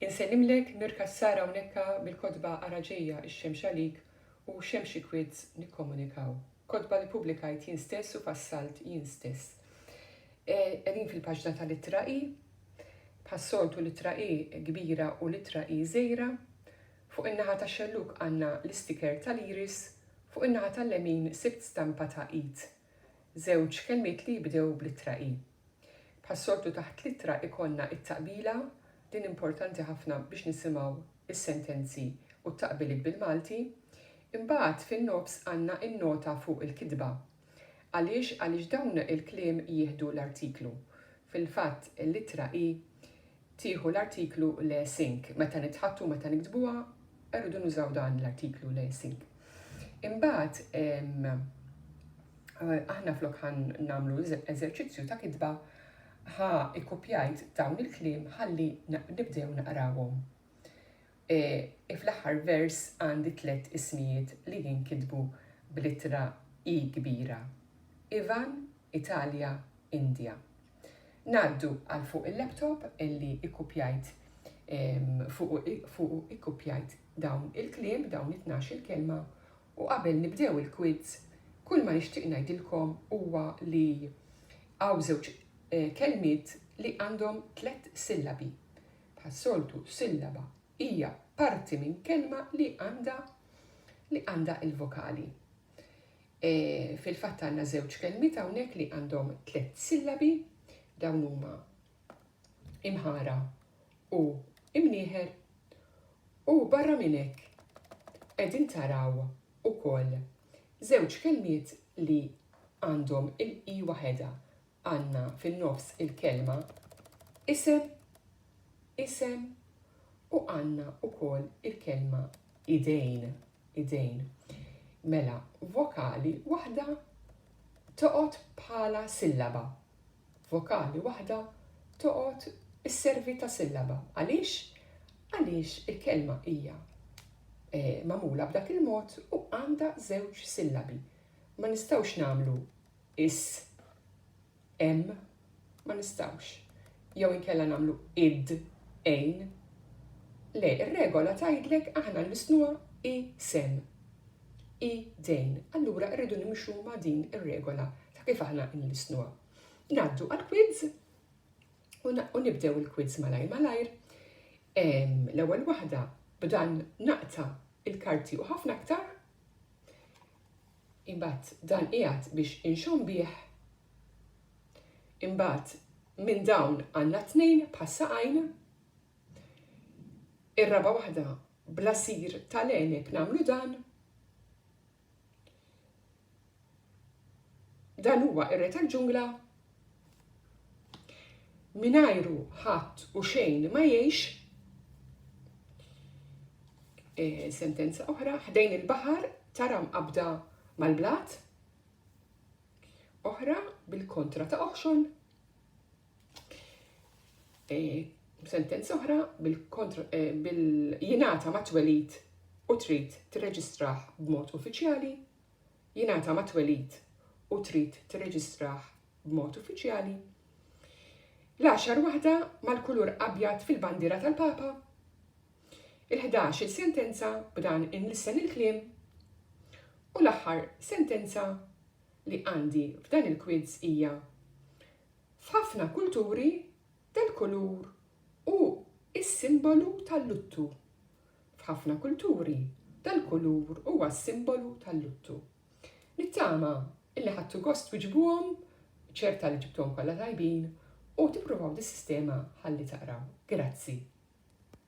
Insellimlek Mir Cassar hawnhekka bil-kotba Ara Ġejja ix-Xemx Għalik u Xemxi Quids Nikkomunikaw. Kotba li ppubblikajt jien stess u fassalt jien stess. Qegħdin fil-paġna tal-ittra I. Bħas-soltu l-ittra I kbira u l-ittra I żgħira. Fuq in-naħa tax-xellug għandna l-istiker tal-iris, fuq in-naħa tal-lemin sibt stampa ta' id. Żewġ kelmiet li jibdew bl-ittra i. Bħas-soltu taħt l-ittra ikollna t-taqbila, din importanti ħafna biex nisimgħu s-sentenzi u t-taqbiliet bil-Malti. Imbagħad fin-nofs għandna n-nota fuq il-kitba. Għaliex? Għaliex dawn il-kliem jieħdu l-artiklu. Fil-fatt l-ittra i tieħu l-artiklu le sink. Meta nitħaddtu, meta niktbuha, irridu nużaw dan l-artiklu le sink. Imbagħad aħna flok ħan nagħmlu eżerċizzju ta' kitba ħa ikkupjajt dawn il-kliem ħalli nibdew naqrawhom. E, e, fl-aħħar vers għandi tliet ismijiet li jinkitbu bl-ittra i kbira. Ivan, Italja, Indja. Ngħaddu għal fuq il-laptop illi ikkupjajt fuqu ikkupjajt dawn il-kliem, dawn it-tnax il-kelma u qabel nibdew il-quiz kull ma nixtieq ngħidilkom huwa li hawn żewġ eh, kelmiet li għandhom tliet sillabi. Bħas-soltu sillaba hija parti minn kelma li għandha li għandha il-vokali. Fil-fatt għandna żewġ kelmiet hawnhekk li għandhom tliet sillabi, dawn huma imħara u imnieħer u barra minn hekk qegħdin taraw ukoll żewġ kelmiet li għandhom il-i waħedha għandna fin-nofs il-kelma isem, isem, u għandna wkoll il-kelma idejn, idejn. Mela, vokali waħda toqgħod bħala sillaba. Vokali waħda toqgħod isservi ta' sillaba. Għaliex? Għaliex il-kelma hija eh, magħmula b'dak il-mod u għandha żewġ sillabi. Ma nistgħux nagħmlu is, em, ma nistgħux, jew inkella nagħmlu id, ejn. Le, ir-regola tgħidlek aħna nlissnuha i, sem, i, dejn. Allura rridu nimxu ma' din ir-regola ta' kif aħna nlissnuha. Ngħaddu għall-quiz u nibdew il-quiz malajr malajr. L-ewwel waħda b'dan naqta' il-karti u ħafna aktar. Imbagħad dan qiegħed biex inxomm bih. Imbagħad minn dawn għandna tnejn bħas-saqajn. Ir-raba' waħda bl-għasir tal-għeneb nagħmlu dan. Dan huwa r-re tal-ġungla Mingħajru ħadd u xejn ma jgħix. E, sentenza oħra, ħdejn il-baħar tara mqabda mal-blat. Oħra bil-kontra ta' oħxon. E, sentenza oħra bil-kontra eh, bil-jinata ma' twelid u trid tirreġistraħ b'mod uffiċjali jingħata mat-twelid u trid tirreġistrah b'mod uffiċjali, l-għaxar waħda mal-kulur abjad fil-bandiera tal-Papa, il-ħdax-il sentenza b'dan inlissen il-kliem, u l-aħħar sentenza li għandi f'dan il-kwiz hija, F'ħafna kulturi, dal-kulur hu s-simbolu tal-luttu. F'ħafna kulturi, dal-kulur huwa s-simbolu tal-luttu. Nittama illi ħadtu gost twiġbuhom, ċerta li ġibtuhom kollha tajbin, u tippruvaw dis-sistema ħalli taqraw. Grazzi.